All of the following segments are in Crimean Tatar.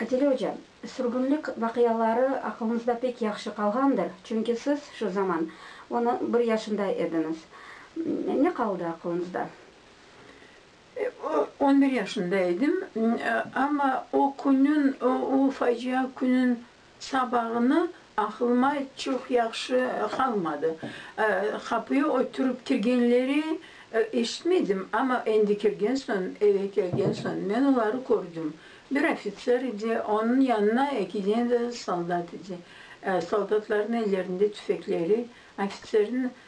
Adile oca, sürgünlik vaqiaları aqlınızda pek yahşı qalğandır, çünki siz şu zaman on bir yaşında ediñiz. Ne qaldı aqlınızda? On bir yaşında edim, amma o künün, o facia künün Sabağına aqlıma çoq yahşı qalmadı. Qapıya oturıp kirgenleri eşitmedim, amma endi kirgen soñ, eve kelgen soñ men oları kördim. Bir ofitser edi, onıñ yanına eki dene de soldat edi. Soldatlarnıñ ellerinde tüfekleri, ofitserniñ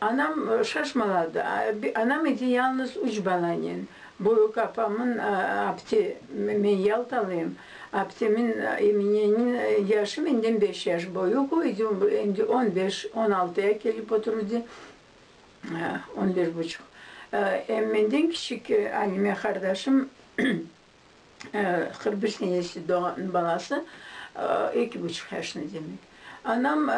Anam şaşmaladı. Anam edi yalnız üç balanen. Büyük apamın apte, men yaltalıyım, aptemin Eminenin yaşı menden beş yaş büyük, o edi endi on beş, on altıya kelip oturdı, on beş buçuq. Em menden kiçik Alime qardaşım Hırbiy senesi doğan balası eki buçuq yaşında demek. Anam,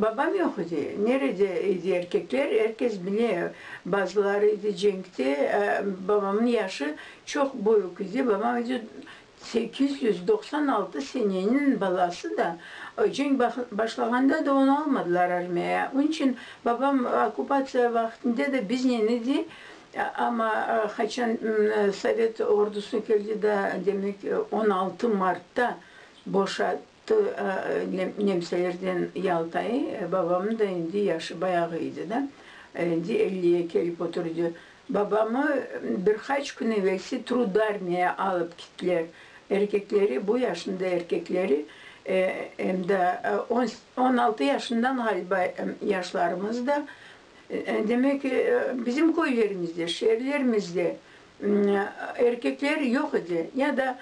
babam yoq edi. Nerede edi erkekler? Erkes bile, bazıları edi cenkte. Babamnıñ yaşı çoq büyük edi. Babam edi sekiz yüz doqsan altı seneniñ balası da. Cenk başlağanda da onı almadılar armiyaya. Onıñ içün babam okkupatsiya vaqtında da biznen edi. Amma qaçan sovet ordusı keldi da, demek, on altı martta boşattı nemselerden Yaltayı, babamnıñ da endi yaşı bayağı edi da, endi elliye kelip oturdı. Babamı bir qaç kün evelsi Trudarmiya alıp kittiler. Erkekleri, bu yaşında erkekleri, em da on altı yaşından, ğaliba, yaşlarımız da, Demek ki, bizim köylerimizde, şeerlerimizde erkekler yoq edi, ya da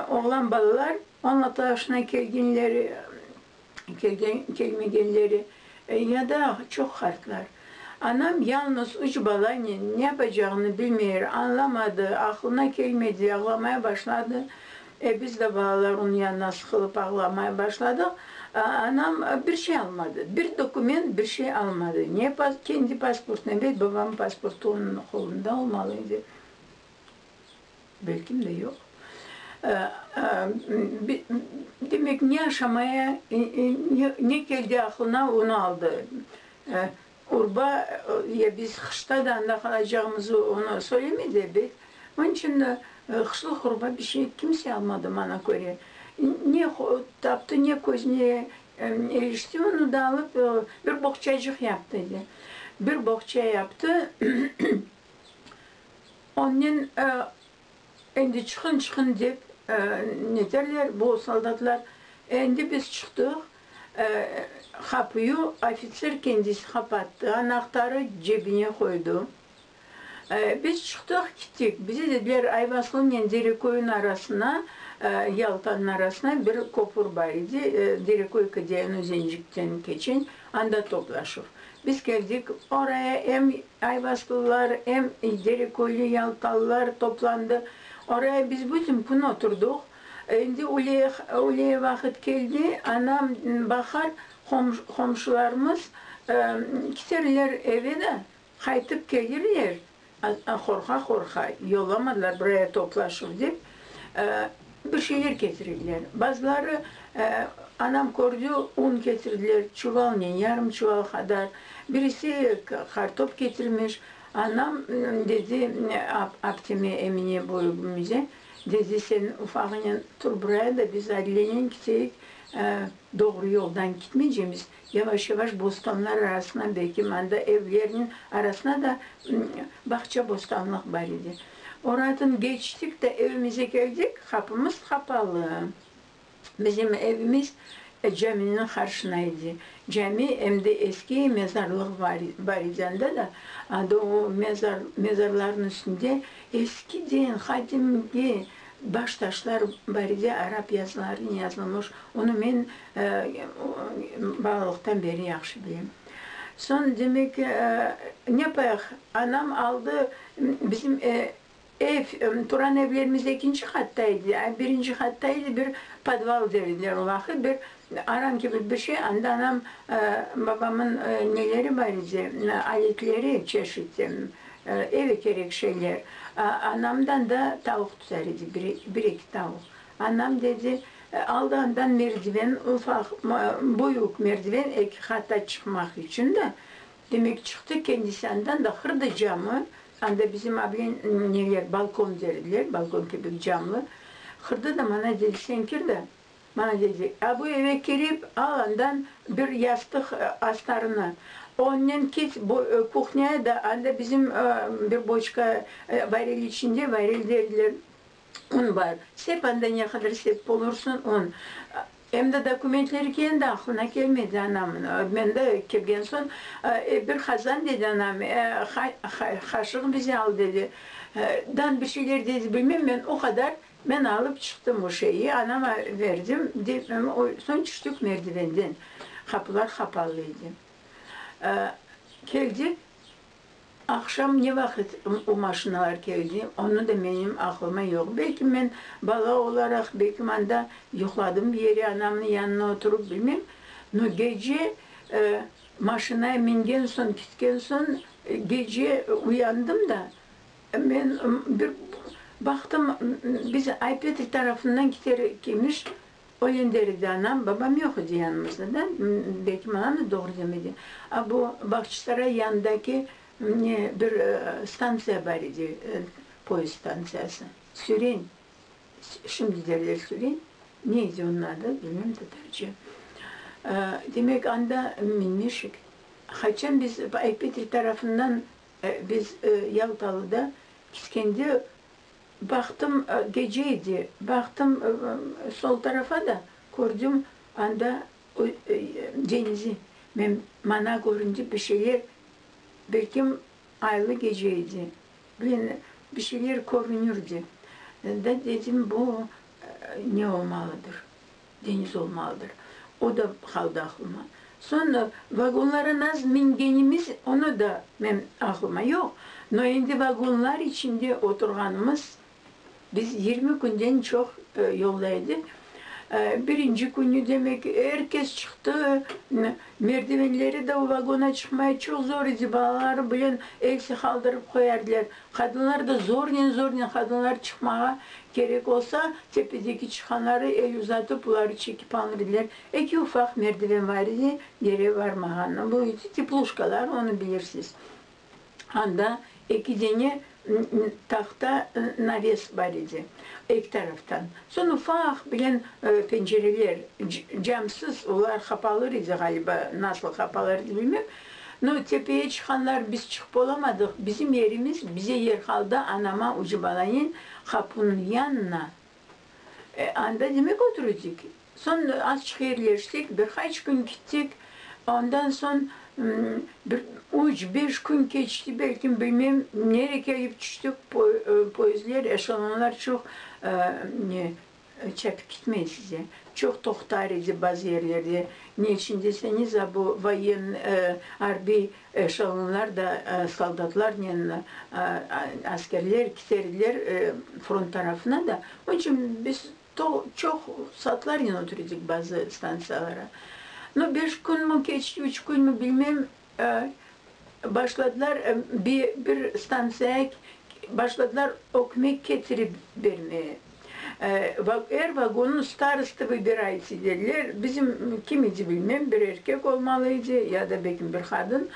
oğlan balalar on altı yaşına kelgenleri, kelmegenleri, ya da çoq qartlar. Anam yalnız üç balanen ne yapacağını bilmey, añlamadı, aqlına kelmedi, ağlamaya başladı. E, biz de balalar onı yanına sıqılıp ağlamaya başladıq. Anam bir şey almadı, bir dokument, bir şey almadı. Ne pas, kendi pasportını, elbet babamnıñ pasportı onıñ qolunda olmalı edi. Belkim de yoq. Demek, ne aşamaya, ne keldi aqlına, onı aldı. Urba, ya biz qışta da anda qalacağımızı onı söylemedi ebet. Onıñ içün de qışlıq urba bir şey kimse almadı, maña köre. Ne taptı, ne közüne erişti, onı da alıp bir boğçacıq yaptı edi. Bir boğça yaptı, onnen Endi çıqın, çıqın dep neterler bu soldatlar. Endi biz çıqtıq, qapuyu ofitser kendisi qapattı, anahtarı cebine qoydu. Biz çıqtıq, kittik. Bize dediler, Ayvaslınen Dereköyün arasına, Yaltanın arasına bir köpür bar edi, Dereköy Kıdyayan Özencikten keçen, anda toplaşuv. Biz keldik oraya, em Aybaslılar em Dereköyli yalpalılar toplandı. Oraya biz bütün kün oturdıq. Endi üleye vaqıt keldi, anam baqar, qomşularımız kiterler eve da, qaytıp kelirler, qorqa-qorqa yollamadılar buraya toplaşuv dep. Bir şeyler ketirdiler. Bazıları, anam kördi, un ketirdiler, çuvalnen, yarım çuval qadar. Birisi qartop ketirmiş. Anam dedi apteme, Emine büyügimize, dedi, Sen ufağınen tur buraya da biz Adilennen kiteyik, doğru yoldan kitmeycemiz. Yavaş-yavaş bostanlar arasına belki manda evlerniñ arasına da bağça-bostanlıq bar edi. Oradan keçtik de evimize keldik, qapımız qapalı. Bizim evimiz caminiñ qarşına edi. Cami em de eski mezarlıq bar edi anda da. Anda o mezarlarnıñ üstünde eskiden, qadimgi baş taşlar bar edi, arap yazılarınen yazılmış. Onı men Balalıqtan beri yahşı bilem. Soñ, demek, ne payıq, anam aldı, bizim ev, turan evlerimiz ekinci qatta edi, a birinci qatta edi, bir podval der ediler o vaqıt, bir aran kibi bir şey, anda anam, babamın neleri bar edi, aletleri, çeşit, eve kerek şeyler, anamdan da tavuq tutar edi, bir eki tavuq. Anam dedi, aldağından merdiven, ufaq, büyük merdiven, eki qata çıqmaq içün da. Demek, çıqtı kendisi andan da, qırdı camı, anda bizim ablen neler, balkon derdiler, balkon kibik camlı, qırdı da mana dedi, sen kir da, mana dedi, a bu eve kirip, al andan bir yastıq astarını, onnen kit bu kuhnyaya da, anda bizim bir boçka, varil içinde, varil derdiler, un bar, sep anda ne qadar sep bolursıñ un, em de dokumentleri kendi aqlına kelmedi anam, mende kelgen soñ, e, bir qazan dedi anam, e, hay, hay, qaşıq bize al dedi, e, dan bir şeyler dedi, bilmem, men o qadar, men alıp çıqtım o şeyi, anama berdim, de, o, soñ tüştik merdivenden, qapular qapalı edi, e, keldik, Aqşam ne vaqıt o maşinalar keldi, onı da menim aqlıma yoq. Belki men bala olaraq, belki manda yuqladım bir yere, anamnıñ yanına oturup, bilmem. No gece maşinaya mingen soñ, kitken soñ, gece uyandım da, men bir baqtım, biz Ay-Petri tarafından kiter ekemiş, O yendelik de anam, babam yoq edi yanımızda da, belki maña da doğru demedi. A bu Bağçısaray yanındaki ne bir stantsiya bar edi, poezd stantsiyası, Süren, şimdi derler Süren, ne edi onıñ adı, bilmem tatarca. Demek, anda minmişik. Qaçan biz Aypetrik tarafından biz Yaltalıda İskender Baqtım, gece edi, baqtım sol tarafa da, kördim anda denizi. Men, mana köründi bir şeyler, belkim aylı gece edi, men, bir şeyler körünirdi. Da dedim, bu ne olmalıdır? Deniz olmalıdır. O da qaldı aqlıma. Soñra vagonlara nasıl mingenimiz, onı da men aqlıma yoq, no endi vagonlar içinde oturğanımız, biz yirmi künden çoq yolda edik. Birinci künü, demek, er kes çıqtı, merdivenleri de o vagona çıqmay çoq zor edi, balaları bilen el sıqaldırıp qoyardılar. Qadınlar da zornen-zornen qadınlar çıqmağa kerek olsa, tepedeki çıqanları el uzatıp uları çekip alınır ediler. Eki ufaq merdiven bar edi, gere varmağanı. Bu edi tepluşkalar, onı bilirsiz. Anda eki dene tahta naves bar edi, eki taraftan. Soñ ufaq bilen pencereler, camsız, olar qapalır edi, ğaliba, nasıl qapalar edi bilmem, No, tepeye çıqanlar biz çıqıp olamadıq, bizim yerimiz bize yer qaldı, anama ucı balayin qapunıñ yanına. E, anda demek oturudik. Soñ azçıq yerleştik, bir qaç kün kittik, ondan soñ bir üç, beş kün keçti belkim, bilmem, nere kelip tüştik, poezdler, eşelonlar çoq, ne. Çapip kitmey size. Çoq toqtar edi bazı yerlerde. Ne içün deseñiz, a bu voyen, arbiy eşalonlar da soldatlarnen askerler kiter ediler front tarafına da. Onıñ içün biz çoq saatlarnen otur edik bazı stantsiyalara. No beş künmi keçti, üç künmi, bilmem, Başladılar bir stantsiyaya başladılar ökmek ketirip bermeye. Er vagonnıñ starostı vıbirayt ediler, bizim kim edi bilmem, bir erkek olmalı edi ya da belki bir qadın.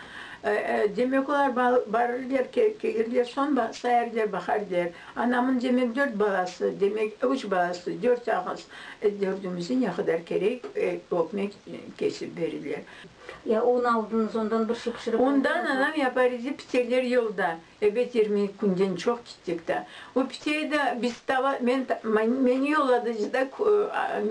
Demek olar barırlar, kelirler, soñ sayarlar, baqarlar, anamıñ demek dört balası, demek üç balası, dört ağız, dördümizge ne qadar kerek ökmek kesip berirler. Ya un aldınız, ondan bir şey pişirip aldınızmı? Ondan anam yapar idi, piteler yolda. Ebet yirmi eki künden çoq gittik da. O piteye de biz tava, men, meni yolladıcı da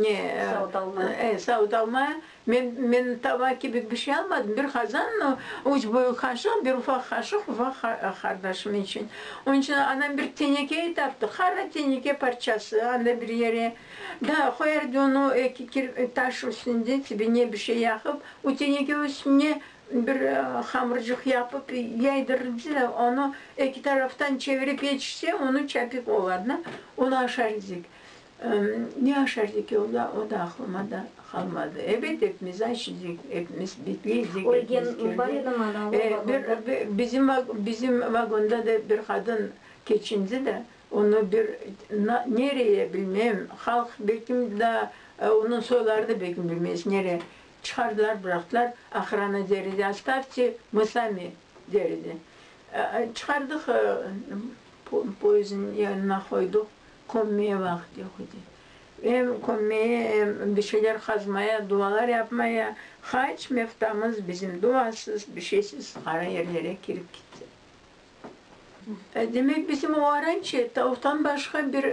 ne, savut almaya. E, savut almaya. Men, men tava kibi bir şey almadım, bir qazan, üç büyük qaşıq, bir ufaq qaşıq, ufaq qardaşım içün. Onıñ içün anam bir teneke taptı, qara teneke parçası, anda bir yere. Daa qoyardı onı eki taş üstünde, tibine bir şey yaqıp, o teneke üstüne bir hamırcıq yapıp yaydırırdı da, onı eki taraftan çevirip yetişse, onı çapik olar da, onı aşar edik. Ne aşar edik, o da aqlıma da qalmadı. Ebet, epimiz aç edik, epimiz bitli edik. Ölgen bar edimi ana o vagonda? Bizim vagonda da bir qadın keçindi da, Onı bir nereye bilmem, halq belkim daa onıñ soyları da belkim bilmez, nere çıqardılar, bıraqtılar, ohrana der edi, ostavte, mı sami der edi. Çıqardıq, poezdniñ yanına qoydıq, kömmeye vaqıt yoq edi. Em kömmeye, em bir şeyler qazmaya, dualar yapmaya, hac meftamız bizim duasız, bir şeysiz, qara yerlere kirip ketti. Demek, bizim oğarançe tavuqtan başqa bir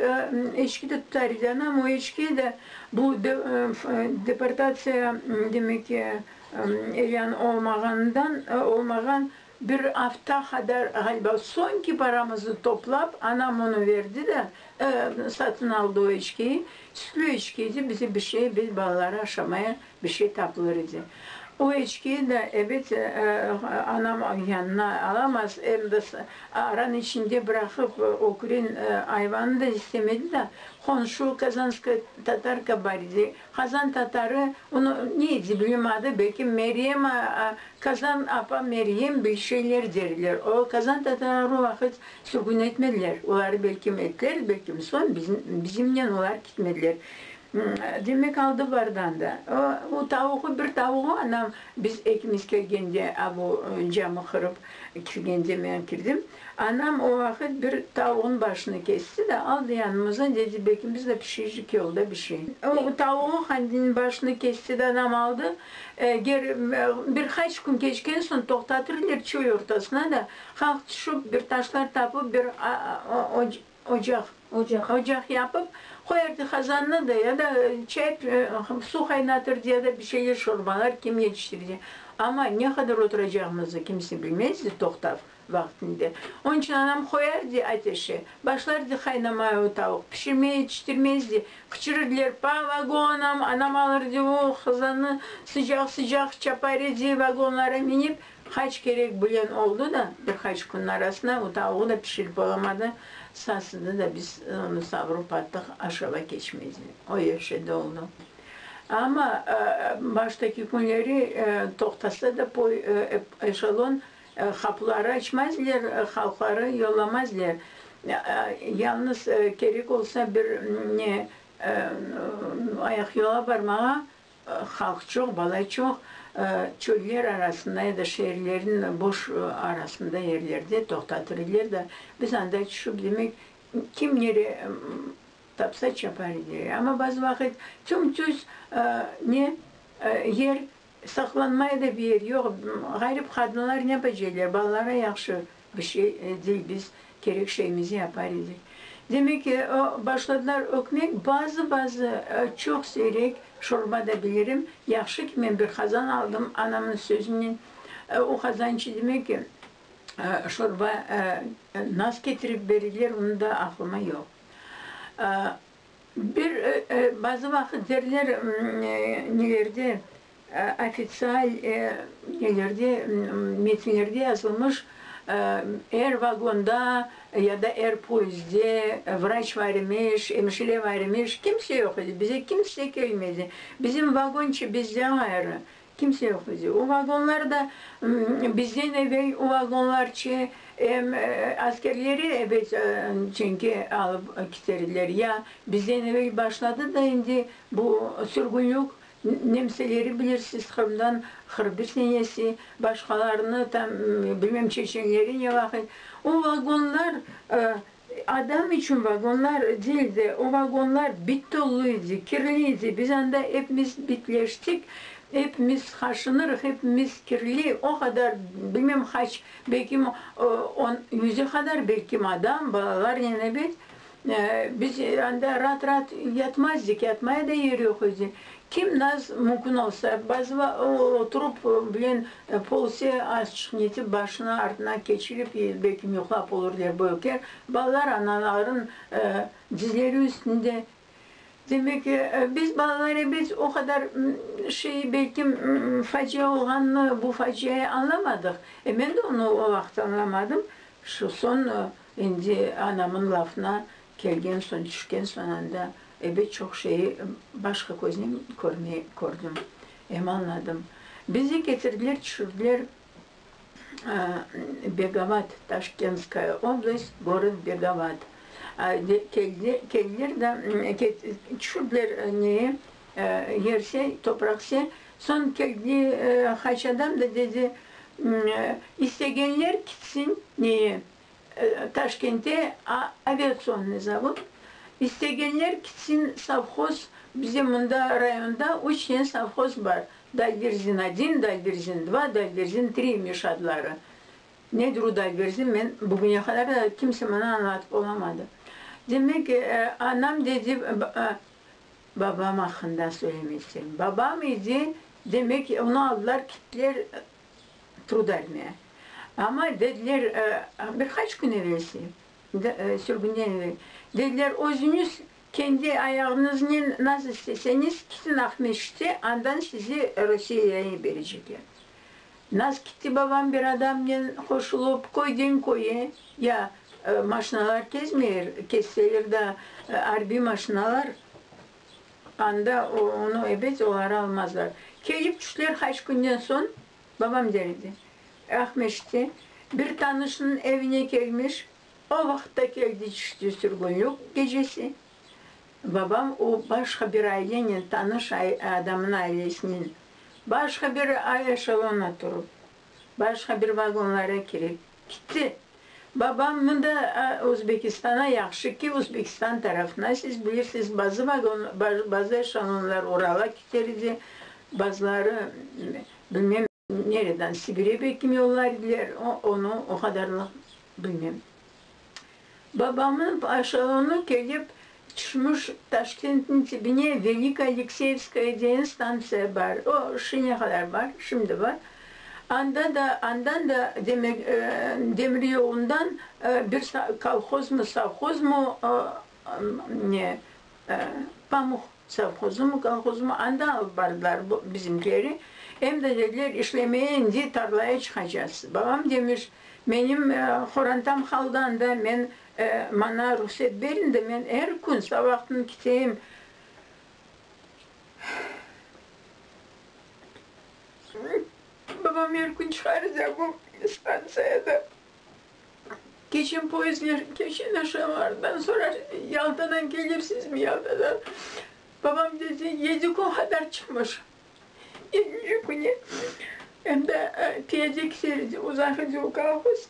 eçki de tutar edi. Anam o eçkiye de bu deportatsiya, demek ki, elan olmağanından, olmağan bir afta qadar, ğaliba, soñki paramıznı toplap, anam onı verdi de, satın aldı o eçkiyi. Sütlü eçki edi, bize bir şey, biz balaları aşamaya Bir şey tapılır edi. O içkiyi de, ebet, anam yanına alamaz, em de aranıñ içinde bıraqıp, ökürin ayvanı da istemedi da, qonşu Kazanskaya Tatarka bar edi, Kazan Tatarı onı ne edi, bilem adı, belki Meryem, Kazan apa Meryem bir şeyler derler. O Kazan Tatarları o vaqıt sürgün etmediler, oları belki ettiler, belki soñ bizimnen olar ketmediler. Demek, aldı bardan da. O tavuğı, bir tavuğı anam biz ekimiz kelgende, a bu camı qırıp kirgende men kirdim. Anam o vaqıt bir tavuğın başını kesti de, aldı yanımızdan, dedi, bekimiz de pişircik yolda bişir. O tavuğı handiniñ başını kesti de, anam aldı, eger bir qaç kün keçken soñ toqtatırlar çöy ortasına da, halq tüşüp, bir taşlar tapıp, bir o Ocaq. Ocaq. Ocaq yapıp, qoyardı qazannı da, ya da çay, suv qaynatırdı, ya da bir şeyler, şorbalar, kim yetiştirdi. Amma ne qadar oturacağımızı kimse bilmezdi, toqtav vaqtında. Onıñ içün anam qoyardı ateşe, başlardı qaynamaya o tavuq, pişirmeye yetiştirmezdi, qıçırırdılar, Pa, vagonım! Anam alırdı o qazannı, sıcaq-sıcaq çapar edi, vagonlara minip, Qaç kerek bilen oldı da, bir qaç künniñ arasına o tavuğı da pişirip olamadı, sasıdı da, biz onı savrıp attıq, aşava keçmez dep, o yerşede oldı. Amma baştaki künleri toqtasa da poy, eşalon, qapıları açmazler, halqları yollamazler, yalnız kerek olsa bir ne, ayaqyola barmağa, Halq çoq, bala çoq. Çöller arasında ya da şeerlerniñ boş arasında yerlerde toqtatır ediler da, biz anda tüşüp, demek, kim nere tapsa çapar ediler. Amma bazı vaqıt tüm-tüz ne yer saqlanmay da, bir yer yoq. Ğarip qadınlar ne beceriler, balalara yahşı Bir şey edi, biz kerek şeymizni yapar edik. Demek ki, o başladılar ökmek, bazı-bazı, çoq seyrek şorba da bilirim. Yahşı ki, men bir qazan aldım, anamnıñ sözünen. O qazan içi demek ki, şorba nas ketirip berdiler, onı da aqlıma yoq. Bir bazı vaqıt derler, nelerde, ofitsial nelerde, metinlerde yazılmış, er vagonda ya da er poezdde vraç bar imiş, emşire bar imiş, kimse yoq edi, bize kimse kelmedi, bizim vagonçı bizden ğayrı, Kimse yoq edi. O vagonlar da bizden evel o vagonlarçı em askerleri ebet çünki alıp kiterdiler. Ya bizden evel başladı da endi bu sürgünlük nemseleri bilirsiz Qırımdan qırq bir senesi başqalarını tam bilmem çeçenleri ne vaqıt. O vagonlar Adam içün vagonlar degil de, o vagonlar bit tolu edi, kirli edi. Biz anda epimiz bitleştik, epimiz qaşınırıq, epimiz kirli. O qadar, bilmem qaç, belki on, yüze qadar belki adam, balalarnen ebet. Biz anda raat-raat yatmazdık, yatmaya da yer yoq edi. Kim naz mümkün olsa, bazı va o oturup bilen polse, az çıqnetip, başını artına keçirip, ye belkim yuqlap olur der bu öker, balalar anaların dizleri üstünde. Demek ki, biz balalar ebet o qadar şey belkim facia olğanını, bu faciayı añlamadıq. E men de onı o vaqıt añlamadım. Şu soñ endi anamın lafına Kelgen soñ, tüşken soñ anda ebet çoq şeyi başqa köznen körmey kördim, em añladım. Bizi ketirdiler, tüşürdiler Begavat, Taşkentskaya oblast, gorod Begavat. Keldiler da tüşürdiler neye, yerse, topraq se. Soñ keldi qayçadan da dedi, istegenler kitsin neye, Taşkentte aviatsiyonnıy zavod. İstegenler kitsin sovhoz, bize mında rayonda üç tane sovhoz bar, Dalverzin один, Dalverzin dva, Dalverzin tri imiş adları. Nedir o Dalverzin, men bugüne qadar da kimse maña añlatıp olamadı. Demek, anam dedi, babam aqqında söylemek isterim. Babam idi, demek, onı aldılar, kittiler Trudalniye. Amma dediler, bir qaç kün evelsi, sürgünden evel, dediler, özüñiz kendi ayağıñıznen nasıl isteseñiz kitin Aqmescitte, andan sizi Rusiyeye berecekler. Naz kitti babam bir adamnen qoşulıp köyden köye, ya maşinalar kezmeyr, kezseler da arbiy maşinalar, Anda onı ebet oları almazlar. Kelip tüşler haç künden soñ, babam der edi, Aqmescitte bir tanışınıñ evine kelmiş, o vaqıtta keldi tüşti sürgünlük gecesi. Babam o başqa bir ailenen tanış adamınıñ ailesinen başqa bir eşelona turıp, başqa bir vagonlara kirip, Kitti. Babam, Mında Özbekistana yahşı ki, Özbekistan tarafına, siz bilirsiz, bazı vagon, bazı eşalonlar Urala kiter edi, bazıları, bilmem, nereden, Sibire belki yollar ediler, onı o qadarlıq bilmem. Babamnıñ paşalonu kelip tüşmüş, Taşkentniñ tibine Veliy Alekseyevskaya degen stantsiya bar, o, şine qadar bar, şimdi bar. Anda da, andan da demek, demiryolundan bir kolhozmı, sovhozmı, Ne, pamuq sovhozımı, kolhozımı anda alıp bardılar bu bizimkileri. Em de dediler, işlemeye indi tarlaya çıqacağız. Babam demiş, menim qorantam haldan da, men, maña ruhset berin de, men er kün savaqtın kiteyim. Babam er kün çıqarıca bu stantsiyada. Keçen poezdler, keçen aşağılardan sorar, Yaltadan kelirsizmi, Yaltadan? Babam dedi, yedi kün hadar çıqmış. Yedinci küni em de piyade kiter edi, uzaq edi o kolhoz.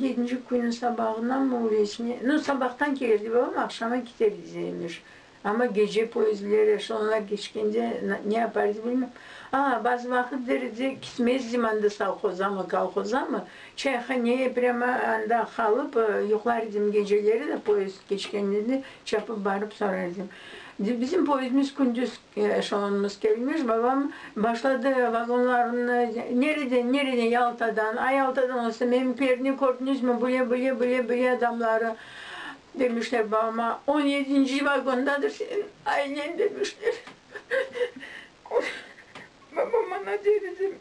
Yedinci künü sabağınanmı, öylesine, no sabahtan kelerdi babam, aqşama kiter edi, Zeyniş. Amma gece poyezdleri soñuna keçkende ne yaparız bilmem. A, bazı vaqıt derede kitmezdim anda sovhozamı, kolhozamı, çayhaneye prâma anda qalıp yuqlar edim geceleri de poyezd keçkende de çapıp barıp sorar edim. Bizim poyezdimiz kündüz eşelonımız kelmiş, babam başladı vagonlarını nereden, nereden, Yaltadan, a, Yaltadan olsa, menim perni kördünüzmü, bile, bile, bile, bile adamları, Demişler babama, on yedinci vagondadır senin ailen, demişler. Babam bana der edi,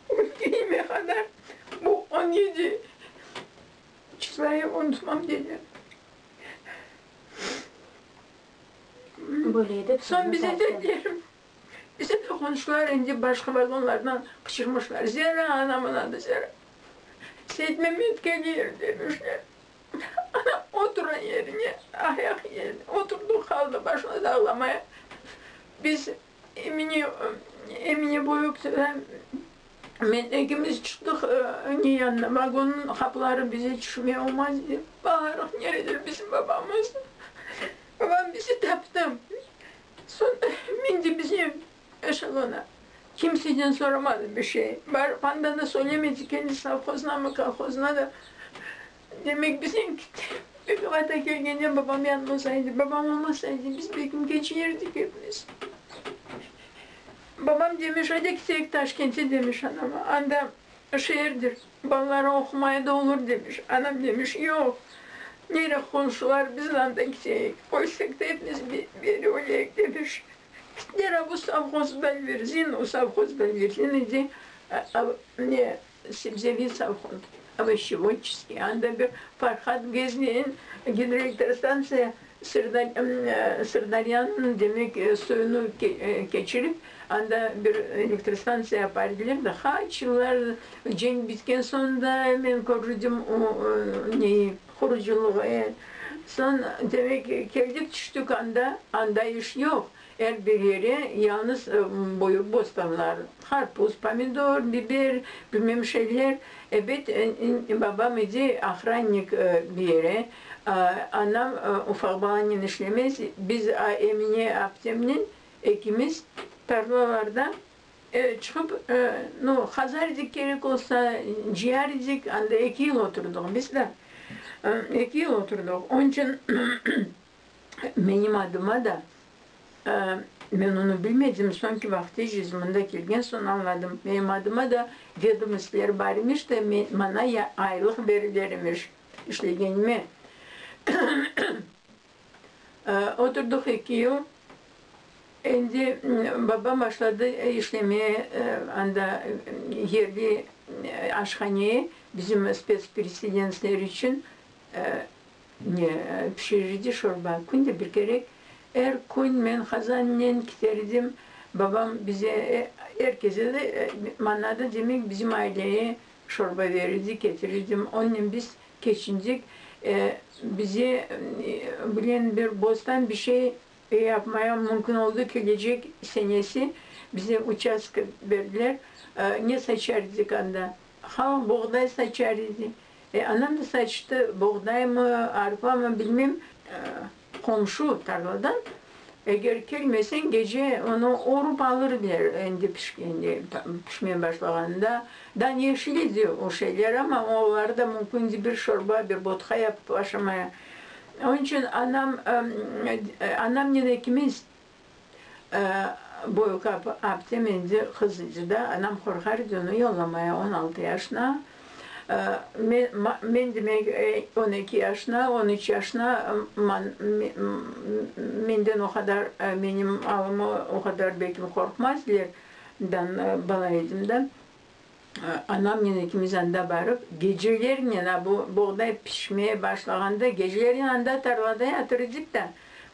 ölgeyime qadar bu on yedi çıslaya unutmam, dedi. Soñ bize dediler, Bize de qonşular endi başqa vagonlardan qıçırmışlar, Zera, anam unadı, Zera! Seytmemet kelir! demişler. Anam oturan yerine ayaq yerine oturdı, qaldı başımız ağlamaya. Biz Emine, Emine Boyukova, men ekimiz çıqtıq ne yanına, vagonnıñ qapıları bize tüşmey olmaz dep bağırıq, neredir bizim babamız? Babam bizi taptı. Sonda men de bizim eşelona. Kimseden soramadım bir şey. Barıp anda da söylemedik endi sovhoznamı, kolhozına da. Demek bizden kitti. Begim ata kelgende babam yanımızda edi. Babam olmasaydı biz Begimge ciyerdik epimiz. Babam demiş, ayda ketelik Taşkente demiş anama. Anda Şeerdir, balalarıñ oqumay da olur, demiş. Anam demiş, yoq, nere qonşular, biz anda gideyik, qoysak da epimiz beri öleyik, demiş. Gittiler, a bu sovhoz Belverzin, o sovhoz Belverzin edi, ne, sebzeviy sovhoz, ovoşevodçeskiy, anda bir Farhad Gezneyin, gidroelektrostantsiya Sırdariyanıñ demek suyunı keçirip, anda bir elektrostantsiya apa ediler de, qaç yıllar cenk bitken soñ da men körüdim o neyi, qurucılığı. Soñ, demek, keldik, tüştük anda, anda iş yoq. Er bir yere yalıñız buyur bostanlar, qarpuz, pomidor, biber, bilmem şeyler, ebet, babam idi ahrannik bir yere, anam ufaq balanen işlemez, biz Emine aptemnen ekimiz tarlalarda çıqıp, no, qazar edik kerek olsa, cıyar edik, anda eki yıl oturdıq biz da, eki yıl oturdıq, onıçün Menim adıma da, men onı bilmedim, soñki vaqıt eciz mında kelgen soñ añladım, menim adıma da vedomostiler bar imiş de, maña aylıq beriler imiş işlegenime. Oturdıq eki yıl, endi babam başladı işlemeye anda yerli aşhaneye, bizim spetspereselensler içün. Ne pişirirdi şorba. Künde bir kerek. Er kün men qazannen kiter edim. Babam bize, er keze de, maña da, demek, bizim aileye şorba berir edi, ketirirdim. Onnen biz keçindik. Bize bilen bir bostan bir şey yapmaya mümkün oldu. Kelecek senesi bize uçastka berdiler. Ne saçar edik anda? Halq buğday saçar edi. E, anam da saçtı, boğdaymı, arpamı, bilmem, qomşu tarladan, eger kelmeseñ, gece onı orup alırdılar, endi pişkende, pişmeye başlağanında, da yeşil edi o şeyler, amma oları da mümkün edi bir şorba, bir botka yapıp aşamaya. Onıñ içün anam, anamnen ekimiz Boyukap apte mendi qız idi da, anam qorqar edi onı yollamaya, on altı yaşına, men demek on eki yaşına, on üç yaşına, menden o qadar, menim alımı o qadar belki qorqmaz der, bala edim da. anamnen ikimiz anda barıp, gecelernen, a, bu boğday pişmeye başlağanda, gecelernen anda tarlada yatır edik da,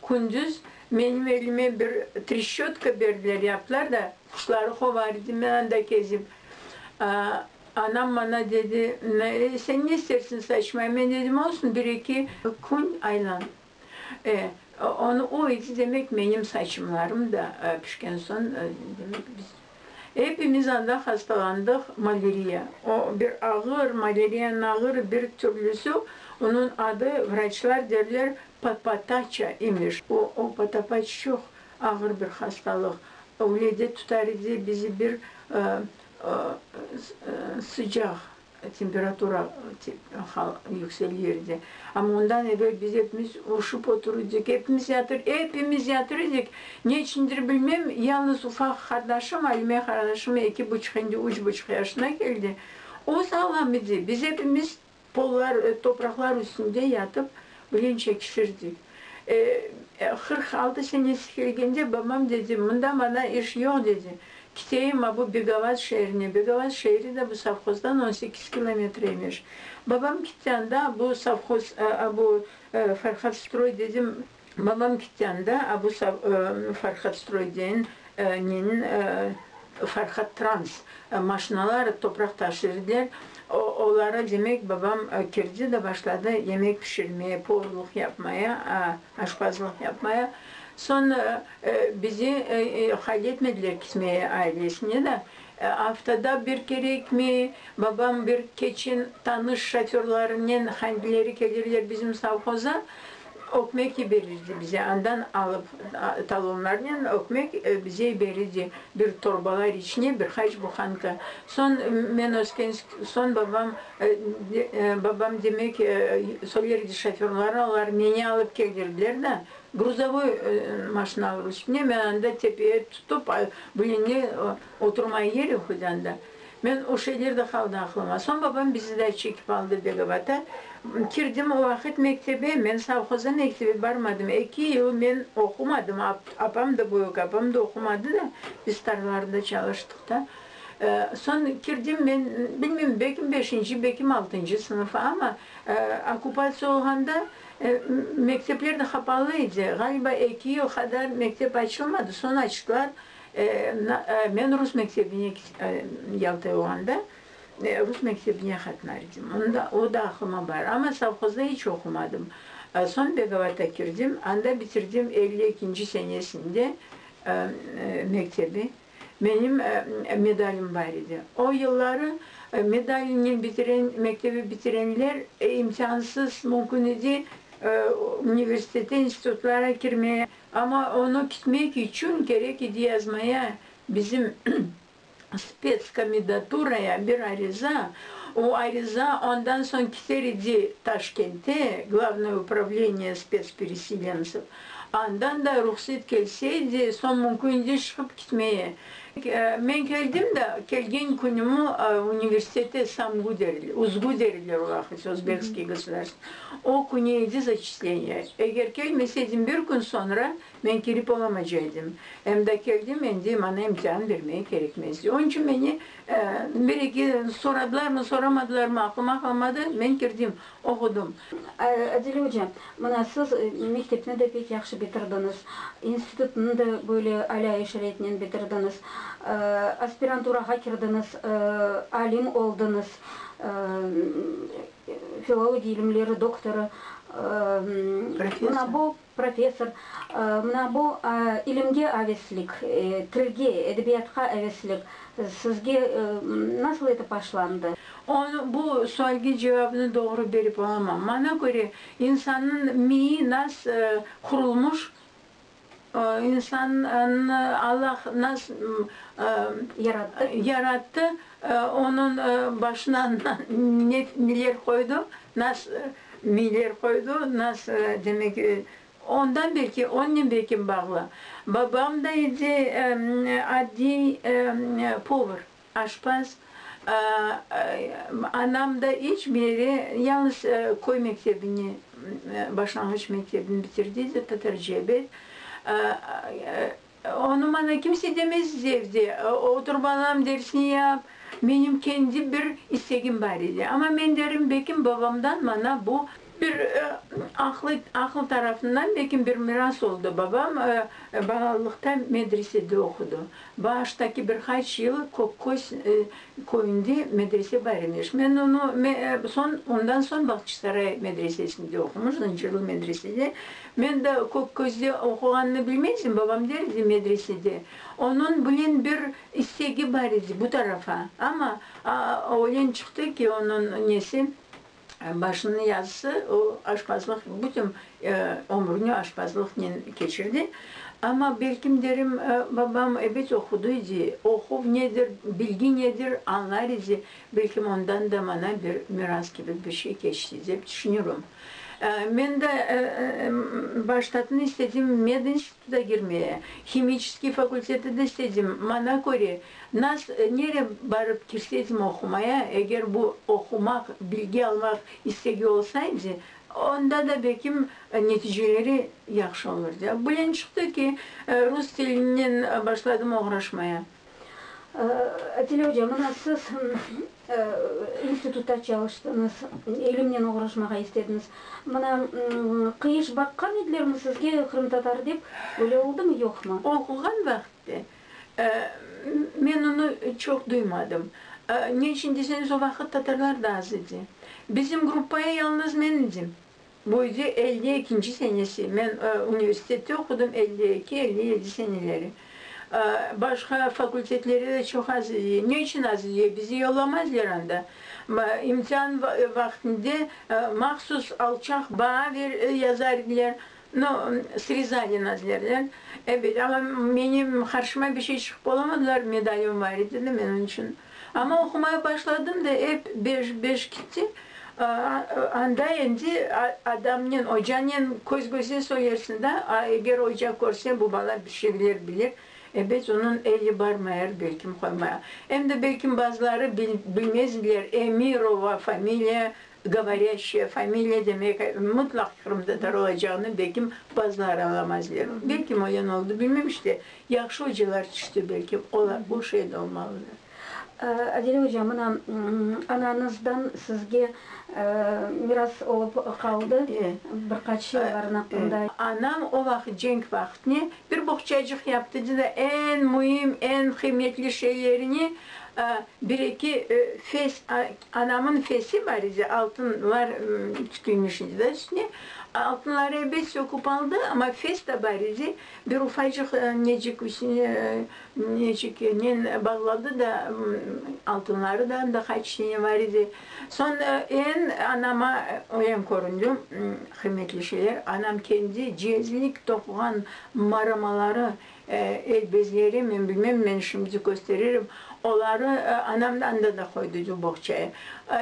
kündüz menim elime bir treşçötka berdiler, yaptılar da, quşları qovar edim men anda kezip. A, anam bana dedi, Sen ne istersiñ, saçmay? Men dedim, Olsun, bir-eki kün aylan. E, onı o edi, demek, menim saçımlarım da pişken soñ, demek, biz epimiz anda hastalandıq, maleriya. O bir ağır, maleriyanıñ ağır bir türlüsi, onıñ adı, vraçlar derler, patpataça imiş. O, o patapaç çoq ağır bir hastalıq, öyle de tutar edi bizi bir sıcaq. Temperatura yüksel yerde. Amma ondan evel biz epimiz urşıp otur edik, epimiz yatır, epimiz yatır edik. Ne içindir bilmem, yalnız ufaq qardaşım, Alime qardaşım eki buçuq, endi üç buçuq yaşına keldi, o sağlam edi. Biz epimiz pollar, topraqlar üstünde yatıp, Bugün çekişirdik. Qırq altı senesi kelgende babam dedi, mında maña iş yoq, dedi, kiteyim abu Begavat şeerine. Begavat şeeri de bu sovhozdan on sekiz kilometr emiş. Babam kitti anda, abu sovhoz, abu Farhadstroy, dedim. Babam kitti anda, abu Farhadstroy, deyin. Men Farhad Trans maşinaları topraq taşır ediler, oları demek babam kirdi de başladı yemek pişirmeye, povluq yapmaya, aşpazlıq yapmaya. Soñ bizi hayl etmediler kitmeye ailesine de. Aftada bir kerekmi, babam bir keçin tanış şoförlarınen handileri kelirler bizim sovhoza, Ökmek yiberirdi bize, andan alıp talonlarnen ökmek bize yiberirdi, bir torbalar içine bir qaç buhanka. Soñ men öskensk, soñ babam, babam demek sol yerde şoförları olar meni alıp keldirdiler da, gruzavoy maşinalar üstüne, men anda tepeye tutıp, bilene oturmay yeri hudanda. Men o şeyler de qaldı aqlıma. Soñ babam bizi de çekip aldı Begovata. Kirdim o vaqıt mektebe. Men sovhozda mektebe barmadım. Eki yıl men oqumadım. Apam da, büyük apam da oqumadı da, biz tarlalarda çalıştıq da. Soñ kirdim men, bilmeyim, belki beşinci, belki altıncı sınıf. Amma okupatsiya olğanda mektepler de qapalı edi. Ğaliba eki yıl qadar mektep açılmadı. Soñ açtılar. Men rus mektebine Yalta olğanda, rus mektebine qatnar edim. Onda, o da aqlıma bar. Amma sovhozda iç oqumadım. Soñ Begovata kirdim, anda bitirdim elli ekinci senesinde mektebi. Menim medalim bar edi. O yılları medalinen bitiren, mektebi bitirenler imkânsız, mümkün edi universitete, institutlara kirmeye. Amma onı kitmek içün kerek edi yazmaya bizim spetskomendaturaya bir ariza, o ariza ondan soñ kiter edi Taşkente, Glavnoye upravleniye spetspereselencev, andan da ruhset kelse edi, soñ mümkün edi şıqıp kitmeye. Men keldim da, kelgen künümi universitete samgu deriler, uzgu deriler ulaqıca, Uzbekskiy gosudârstvenıy, o künü edi zaçisleniya. Eger kelmese edim, bir kün soñra men kirip olamaca edim. Em da keldim, endi maña imtihan bermege kerekmezdi. Onıñ içün meni bir-eki soradılarmı, soramadılarmı, aqlıma qalmadı, men kirdim. Ogudım. Adile oca, mına siz mektepni de pek yahşı bitirdiñiz, institutnı da böyle alâ-i şarâitnen bitirdiñiz, aspiranturağa kirdiñiz, alim oldıñız, filologiya ilimleri doktorı. Mına bu Professor, mına bu, ilimge aveslik, tilge, edebiyatqa aveslik sizge nasıl etip başlandı? Onı, bu sualge cevabını doğru berip olamam. Maña köre, insannıñ miyi nas qurulmış, insannı Allah nas yarattı, Onıñ başına miler qoydu, nas miler qoydu, nas demek, ondan belki, onnen belki bağlı. Babam da edi adiy povır, aşpaz. Anam da iç biri, yalıñız köy mektebini, başlanğıç mektebini bitirdi edi, Tatarcebet. Onı maña kimse demez edi evde oturıp alam dersini yap, menim kendi bir istegim bar edi. Amma men derim, belkim babamdan maña bu, bir aqlı aqıl tarafından belkim bir miras oldı, babam balalıqta medresede oqudı, bağıştaki bir qaç yıl Kökköz Köyünde medrese bar imiş. Men onı, soñ, ondan soñ Bağçasaray medresesinde oqumış, Zıncırlı medresede. Men da Kökközde oquğanını bilmezdim, babam der edi, medresede. Onıñ bilen bir istegi bar edi bu tarafa. Amma öglen çıqtı ki, onıñ nesi, Başınıñ yazısı, o, aşpazlıq, bütün ömrüni aşpazlıqnen keçirdi. Amma, belkim derim, babam ebet oqudı edi, oquv nedir, bilgi nedir, añlar edi, belkim ondan da maña bir miras kibi bir şey keçti, dep tüşünürüm. Men de baştatın istedim, medinst, Zagirme, himiçeskiy fakultetede işledim. Mana köre, nas, nere barıp kirsedim oqumaya, eger bu oqumaq, bilgi almaq istegi olsaydı, onda da belkim neticeleri yahşı olurdı. Bilen çıqtı ki, rus tilinen başladım oğraşmaya. Atile oca, mına siz institutta çalıştıñız, ilimnen oğraşmağa istediñiz. Mına, qıyış baqqan edilermi sizge qırımtatar dep? Böyle oldumı, yoqmı? Oquğan vaqıtta men onı çoq duymadım. Ne içün deseñiz, o vaqıt tatarlar da az edi. Bizim gruppaya yalnız men edim. Bu idi elli ekinci senesi. Men universitette oqudım elli eki, elli yedi seneleri. Başqa fakultetlerde de çoq az idi. Ne içün az idi? Bizi yollamazlar anda. İmtihan vaqtında mahsus alçaq baa yazar ediler. No, srezali nas derler. Ebet, amma menim qarşıma bir şey çıqıp olamadılar, medalım bar edi de, men onıñ içün. Amma oqumaya başladım da ep beş, beş kitti. Anda endi adamnen, ocanen köz-göze soyarsıñ da, a eger oca körse, bu bala bir şeyler bilir, ebet, onıñ eli bar meyar, belkim qoymaya. Em de belkim bazıları bilmezdiler, Emirova, familiya govorâşçıya, familiya demek mıtlaq Qırımda taralacağını belkim bazıları añlamazdiler. Belkim öyle ne oldı, bilmem, işte, Yahşı ocılar tüşti belki, olar o şeyde olmalıdır. Adile oca, mına ananızdan sizge miras olıp qaldı, bir qaç şeylerin aqqında. Anam o vaqıt cenk vaqıtne bir boqçacıq yaptı edi da, eñ müim, eñ qıymetli şeylerini, bir eki fes, anamnıñ fesi bar edi, altınlar tikilmiş edi da üstüne, altınları ebet söküp aldı, amma fes de bar edi, Bir ufacıq necik üstüne neciknen bağladı da, altınları da anda qaç tane bar edi. Soñ eñ anama oyan köründi, qıymetli şeyler, anam kendi cezlik toquğan maramaları, el bezleri, men bilmem, men şimdi kösteririm, oları anam anda da qoydı edi, boğçaya.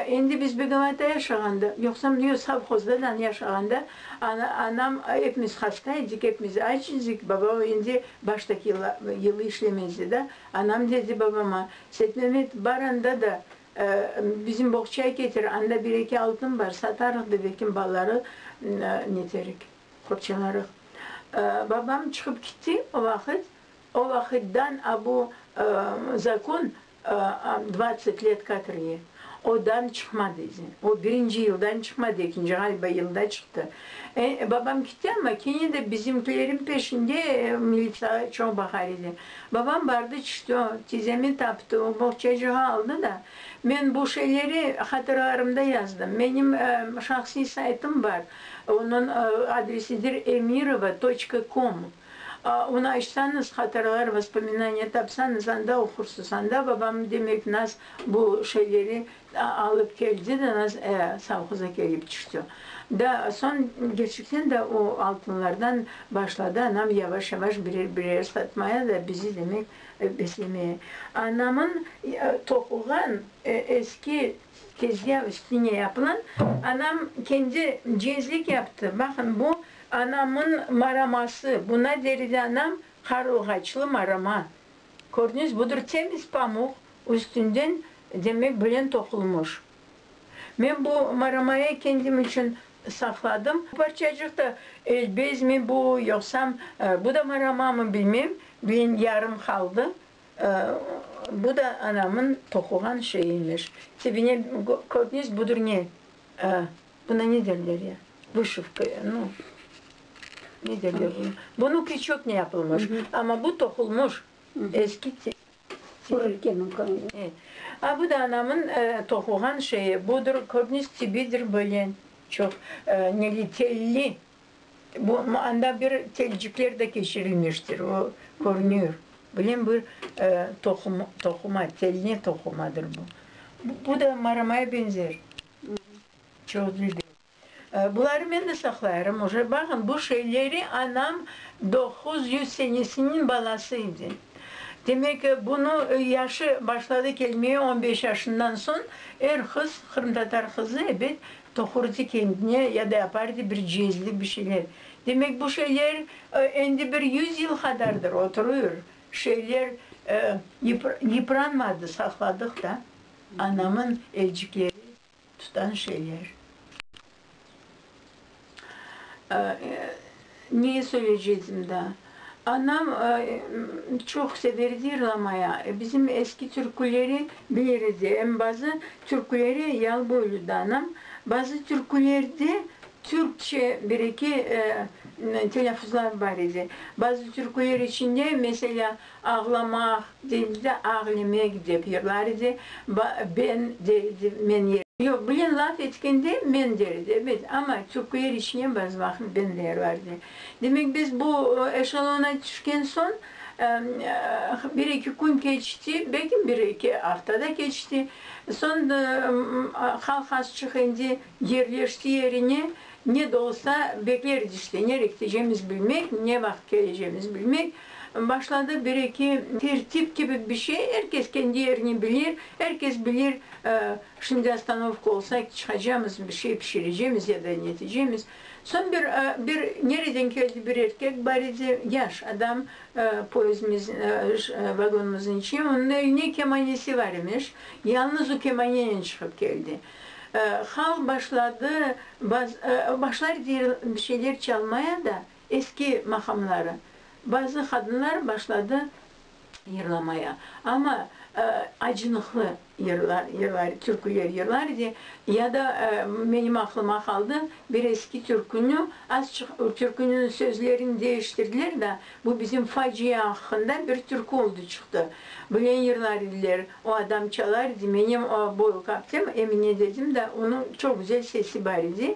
Endi biz Begovata yaşağanda, yoqsa mında sovhozda da yaşağanda, Anam, Epimiz hasta edik, epimiz aç idik, babam endi baştaki yılı işlemez edi. Anam dedi babama, Setmemet, bar anda da bizim boğçaya ketir, anda bir-eki altın bar, satarıq da belki malları neterik, qorçalarıq. Babam çıqıp ketti o vaqıt. O vaqıtdan abu zakon Dvadset let katrge odan çıqmadı zen. O birinci yıldan çıqmadı, ekinci ğaliba yılda çıqtı. Babam kitti, amma kene de bizimkilerin peşinde militsiya çoq baqar edi. Babam bardı, çişti, tizemi taptı, o boğçacığı aldı da. Men bu şeyleri hatıralarımda yazdım. Menim şahsiy saytım bar, onıñ adresidir emirova toçka kom. Onı açsanız, hatiralar, vospominaniya, tapsanız, anda oqursiz. Anda babam demek naz bu şeyleri alıp keldi de naz e, sovhoza kelip tüşti. Da soñ gerçekten de o altınlardan başladı anam yavaş-yavaş birer-birer satmaya da bizi demek beslemeye. Anamın toquğan eski Tezgâ üstüne yapılan, anam kendi cezlik yaptı. Baqın, bu anamın maraması, buna deredi anam qarılğaçlı marama. Körniz, budır temiz pamuq, üstünden demek bilen toqulmış. Men bu maramayı kendim içün saqladım. Parçacıq da elbezmi bu, yoqsam bu da maramamı, bilmem, bilen yarım qaldı. Bu da anamın toquğan şeyi imiş. Tibine körtniz budur ne? Buna ne derler ya? Vışıvka ya, no. Ne derler buna? Bunı küçükten yapılmış. Amma bu toqulmış. Eski tip. A bu da anamın toquğan şeyi. Budur, körtniz tibidir böyle çoq, neli, telli Bu, anda bir telcikler de keçirilmiştir, o körünüyor. Bilem bir toqum, toquma, telne toqumadır bu. Bu da maramaya benzer. Çoq dilde. Buları men de saqlayırım oca. Baqın, bu şeyleri anam doquz yüz senesiniñ balası edi. Demek ki, bunı yaşı başladı kelmeye on beş yaşından soñ, er qız, qırımtatar qızı, ebet, Tohurdi kendine ya da yapardi bir cezli bir şeyler. Demek, bu şeyler endi bir yüz yıl qadardır oturır, şeyler yıpranmadı, saqladıq da, anamın elcikleri tutan şeyler. Ne söyleycegdim da. Anam çoq severdi yırlamaya. Bizim eski türküleri bilir edi. Em bazı türküleri yal boyluydı anam. Bazı türkülerde türkçe bir-eki telâfuzlar bar edi. Bazı türküler içinde, meselâ, Ağlamaq, deyildi, ağlemek dep yırlar edi, ba, ben, der edi, men ye. Yoq, bilen laf etkende men der edi, ebet, amma türkler içine bazı vaqıt ben de yırlar edi. Demek, biz bu eşelona tüşken soñ, ıı, bir eki kün keçti, belki bir eki afta da keçti, soñ da, ıı, halq az çık endi, yerleşti yerine, ne de olsa bekler edi işte, nere ketecegimiz bilmek, ne vaqıt kelecegimiz bilmek, Başladı bir-eki tertip kibi bir şey, er kes kendi yerini bilir, er kes bilir, şimdi ostanovka olsa, çıqacamız, bir şey pişirecemiz ya da netecemiz. Soñ bir, bir nereden keldi bir erkek bar edi, yaş adam, poezdimiz, vagonımıznıñ içine, onıñ eline kemanesi var imiş, yalnız o kemanenen çıqıp keldi. Halq başladı, başlar bir şeyler çalmaya da, Eski maqamları. Bazı qadınlar başladı yırlamaya. Amma acınıqlı yırlar, yırlar, türküler yırlar edi. Ya da menim aqlıma qaldı, bir eski türkünü, azçıq türkünüñ sözlerini deiştirdiler da, bu bizim faciya aqqında bir türkü oldı çıqtı. Bilen yırlar ediler. O adam çalar edi. Menim boy kaptım, Emine dedim da, onıñ çoq güzel sesi bar edi.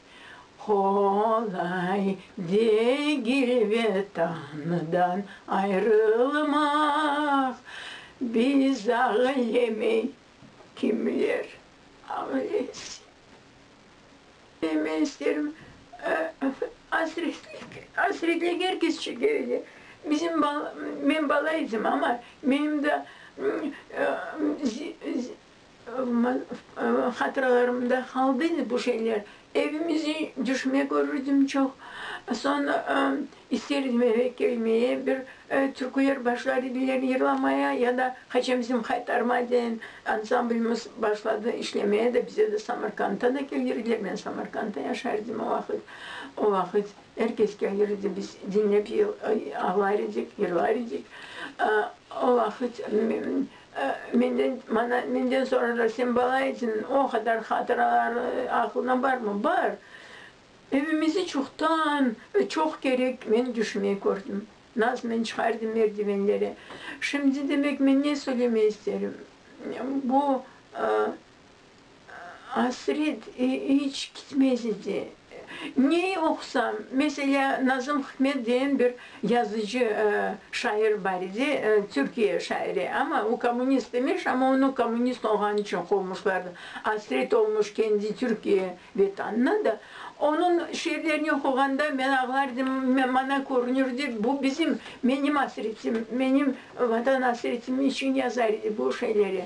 Qolay degil Vetandan ayrılmaq, Biz ağlemey kimler ağlesin. Ve men isterim, asretlik, asretlik er kes çekeyle. Bizim bala, men bala edim, amma menim da Hatıralarımda qaldı indi bu şeyler. Evimizde düşme körürdim çoq. Soñ ister edim eve kelmeye, bir türküler başlar ediler yırlamaya ya da qaçam bizim Haytarma deyen ansamblimiz başladı işlemeye de bize de Samarqanddan da kelirdiler, men Samarqandda yaşar edim o vaqıt. O vaqıt er kes kelirdi, biz diñlep ağlar edik, yırlar edik. O vaqıt Menden, mana, menden soñra Rasim Balayiçniñ o qadar hatıraları aqlıña barmı? Bar! Evimizni çoqtan, çoq kerek men tüşmey kördim. Nasıl men çıqardım merdivenlere. Şimdi, demek, men ne söylemey isterim? Bu, ıı. Asret iç kitmez edi. Ne oqusam, meselâ, Nazım Hikmet degen bir yazıcı, şair bar edi, Türkiye şairi, amma o kommunist emes, amma onı kommunist olğanı içün qovmuşlar. Asret olmuş kendi Türkiye Vetanına da. Onıñ şiirlerini oquğanda men ağlardım, maña körünirdi, bu bizim, menim asretim, menim Vatan asretim içün yazar edi bu şeyleri.